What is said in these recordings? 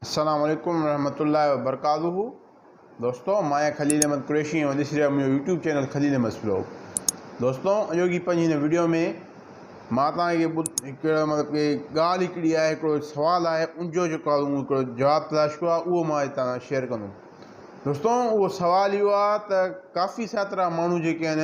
السلام عليڪم ورحمة الله وبرڪاته دوستو ماهيان خليل احمد قريشي ۽ ڏسي رهيا منهنجو YouTube channel Khalil Ahmed blog دوستو اڄوڪي پنهنجي هن ويڊيو ۾ مان توهان کي هڪڙو مطلب ڪي ڳالهه هڪڙي آهي هڪڙو سوال آهي ان جو جيڪو آهي هو هڪڙو جواب تلاش ڪيو آهي اهو مان هتان سان شيئر ڪندم دوستو اهو سوال اهو آهي ته ڪافي ساترا ماڻهو جيڪي آهن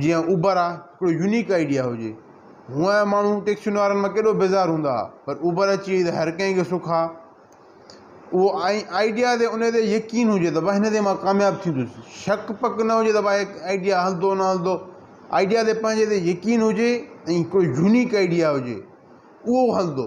جيئن اوبر آ ھڪڙو يونيڪ آئيڊيا ھجي ھونئن ماڻھو ٽيڪسين وارن مان ڪيڏو بيزار ھوندا ھئا پر اوبر اچي وئي ته ھر ڪنھن کي سک آ اھو ۽ آئيڊيا تي ان تي يقين ھجي ته بس ھن تي مان ڪامياب ٿيندس شڪ پڪ نه ھجي ته بھا ھي آئيڊيا ھلندو نه ھلندو آئيڊيا تي پنھنجي تي يقين ھجي ۽ ھڪڙو يونيڪ آئيڊيا ھجي اھو ھلندو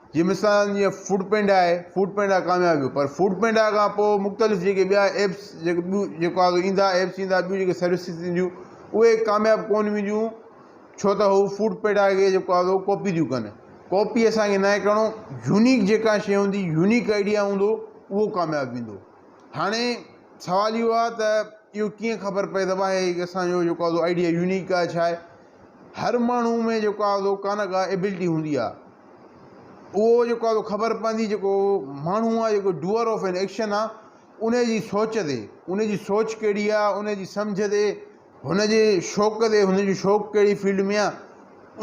جي مثال جيئن فوڊ پينڊا آهي فوڊ پينڊا ڪامياب ويو پر فوڊ پينڊا کان پوء مختلف جيڪي ٻيا ايپس جيڪي ٻيون جيڪو آهي ايندا ايپس ايندا ٻيون جيڪي سروسز اينديون اهي ڪامياب ڪون وينديون ڇو ته هو فوڊ پينڊا کي جيڪو آهي ڪاپي ٿيون ڪن ڪاپي اسان کي ناهي ڪرڻو يونيڪ جيڪا شيء هوندي يونيڪ آئيڊيا هوندو اهو ڪامياب ويندو هاڻي سوال اهو آهي ته اهو ڪيئن خبر پئي ته واهي اسان جو جيڪو آهي آئيڊيا يونيڪ آهي ڇا آهي هر ماڻهو ۾ جيڪو آ سو ڪا نه ڪا ايبلٽي هوندي آ اهو جيڪو آ سو خبر پوندي جيڪو ماڻهو آ جيڪو ڊوئر آف اين ايڪشن آ انهي جي سوچ تي انهي جي سوچ ڪهڙي آ انهي جي سمجهه تي هن جي شوق تي هن جو شوق ڪهڙي فيلڊ ۾ آ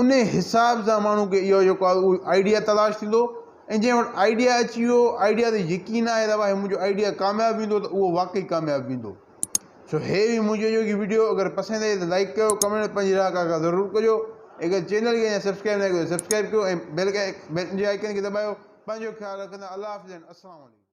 انهي حساب سان ماڻهو کي اهو جيڪو آ اهو آئيڊيا تلاش ٿيندو ۽ جنهن وٽ آئيڊيا اچي ويو آئيڊيا تي يقين آهي ته ڀائي منهنجو آئيڊيا ڪامياب ويندو ته اهو واقعي ڪامياب ويندو سو هي هئي منهنجي اڄوڪي ويڊيو اگر پسند آئي ته لائيڪ ڪيو ڪمينٽ ۾ پنهنجي راء ڪا ڪا ضرور ڪجو اگر چينل کي اڃا سبسڪرائيب ناهي ڪيو ته سبسڪرائيب ڪيو ۽ بيل جي آئيڪن کي دٻايو پنهنجو خيال رکندا الله حافظ اينڊ السلام عليڪم.